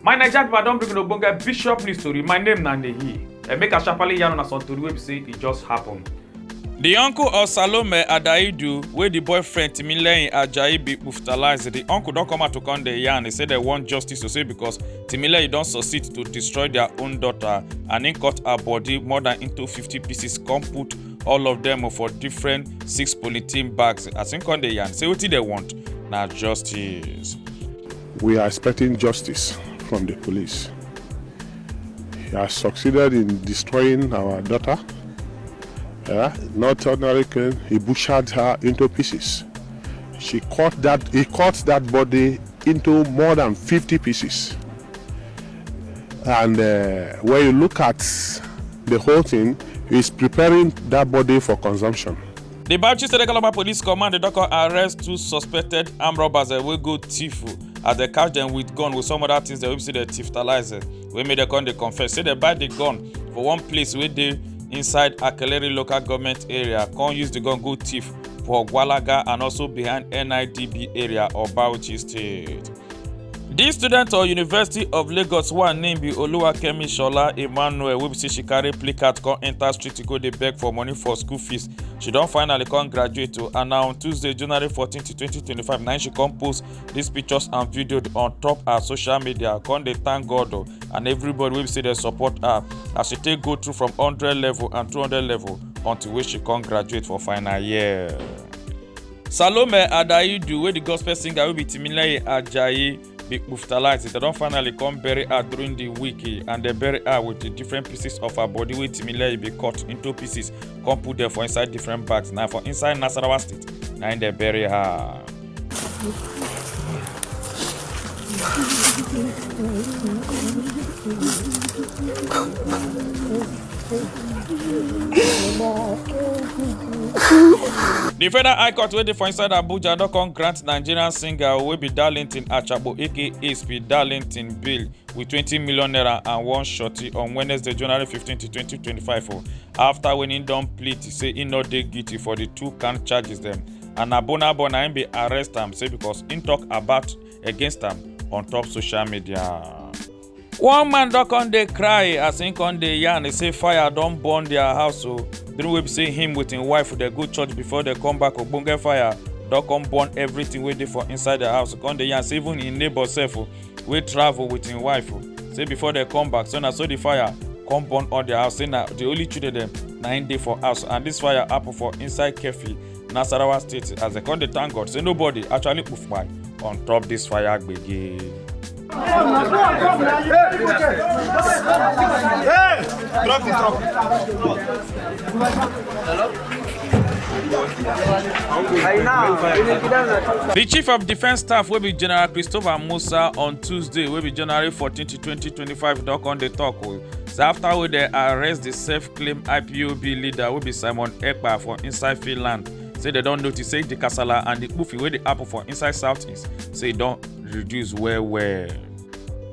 my naija pipo i don bring una ogbonge bishop news tori my name na nehi and make i sharparly yarn una some tori wey be say e just happen. di uncle of salome adaidu wey di boyfriend timileyin ajayi bin brutalize di uncle don come out to come dey yarn e say dem want justice to say because timileyin don succeed to destroy dia own daughter and im cut her body more dan into fifty pieces come put all of them for different six polythene bags as im come dey yarn say wetin dem want na justice. we are expecting justice from the police he has succeeded in destroying our daughter yeah, not ordinary killing he butchered her into pieces she cut that he cut that body into more than 50 pieces And uh, when you look at the whole thing, is preparing that body for consumption. The Bauchi State Economic Police Command don come arrest two suspected armed robbers eh, wey go thief oh, as dem catch dem with gun with some other things dem wey be say dem thiftalize eh, wey make dem come dey confess say dem buy the gun for one place wey dey inside Akeleri local government area come use the gun go thief for Gwalaga and also behind NIDB area of Bauchi State. di student of university of lagos one name be oluwakemi shola emmanuel wey be say she carry placard come enter street go dey beg for money for school fees she don finally come graduate o and na on tuesday january 14 2025 na she come post dis pictures and videos on top her social media come dey thank god o and everybody wey be say dey support her as she take go through from 100 level and 200 level until wey she come graduate for final year. Salome Adaidu wey the gospel singer wey be Timileyin Ajayi be kpuftalite dem don finally come bury her during the week eh, and dem bury her with the different pieces of her body wey Timileyin be cut into pieces come put them for inside different bags na for inside Nasarawa state na im dem bury her. di federal high court wey dey for inside abuja don come grant nigerian singer wey be darlington achabo aka speed darlington bail with twenty million naira and one shorty on wednesday january fifteen to twenty twenty five o afta wen im don plead say im no dey guilty for di two count charges dem and na burna boy na im bin arrest am say becos im tok about against am on top social media. one man don come dey cry as him come dey yarn e say fire don burn their house o during wey be say him with him wife dey go church before dey come back ogbonge fire don come burn everything wey dey for inside their house come dey yarn say even him neighbor sef o wey travel with him wife o say before dey come back so na so the fire come burn all their house say na the only children dem na him dey for house and this fire happen for inside kefi nasarawa state as dem come dey thank god say nobody actually poof my on top this fire gbege. di chief of defence staff wey be general christopher musa on tuesday wey be january fourteen twenty twenty five don come dey tok o say afta wey dem arrest di self claim ipob leader wey be simon ekpa for inside finland say dem don notice say di kasala and di kpufi wey dey happen for inside southeast say e don reduce well well.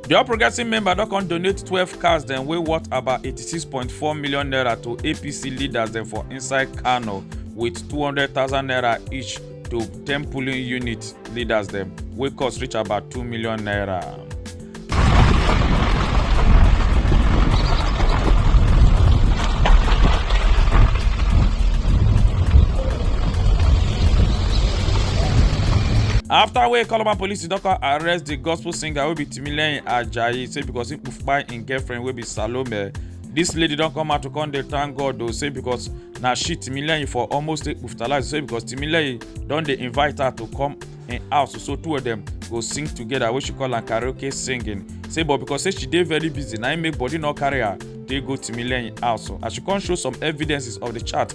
di all progressive member don come donate twelve cars dem wey worth about eighty-six point four million naira to apc leaders dem for inside kano wit two hundred thousand naira each to 10 polling unit leaders dem wey cost reach about 2 million naira. after wey calabar police don come arrest di gospel singer wey be timileyin ajayi say because im kpai im girlfriend wey be salome This lady don come out to come dey thank god o say because na she timileyin for almost take puftalize say because timileyin don dey invite her to come im house so two of dem go sing together wey she call am karaoke singing say but because say she dey very busy na im make body no carry her dey go timileyin house as she come show some evidences of the chat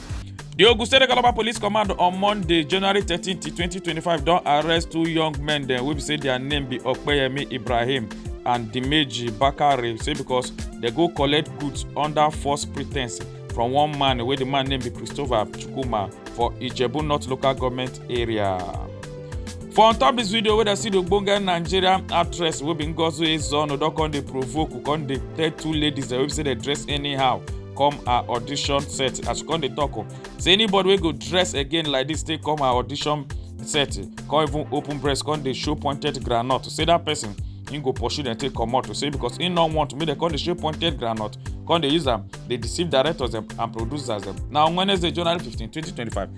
di ogun state calabar police command on monday january thirteen twenty twenty five don arrest two young men dem wey be say dia name be okpeyemi ibrahim and dimeji bakare say because dem go collect goods under false pretense from one man wey di man name be christopher chukwuma for ijebu north local government area. for on top dis video wey dem see di ogbonge nigerian actress wey be ngozi ezeonu don come dey provoke come dey tell two ladies dem wey be say dem dress anyhow come her audition set as she come dey talk o oh. say anybody wey go dress again like this take come her audition set come even open breast come dey show pointed groundnut say that person him go pursue dem take comot to say because him no want make dem come dey show pointed groundnut come dey use am dey deceive directors dem and producers dem na on wednesday january fifteen twenty twenty five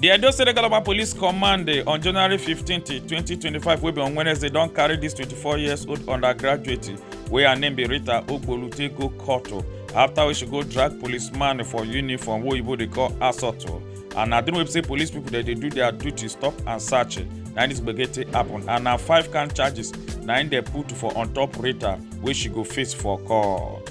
di edo state local police command eh, on january 15 2025 wey be on wednesday don carry dis 24 years old undergraduate wey her name be rita ogbolute go court oh, after wey she go drag policeman for uniform wey oyibo dey call assault oh. and na during wey be say police pipo dey do dia duty stop and search eh, na dis gbege take happen and na five count charges na im dey put for on top rita wey she go face for court.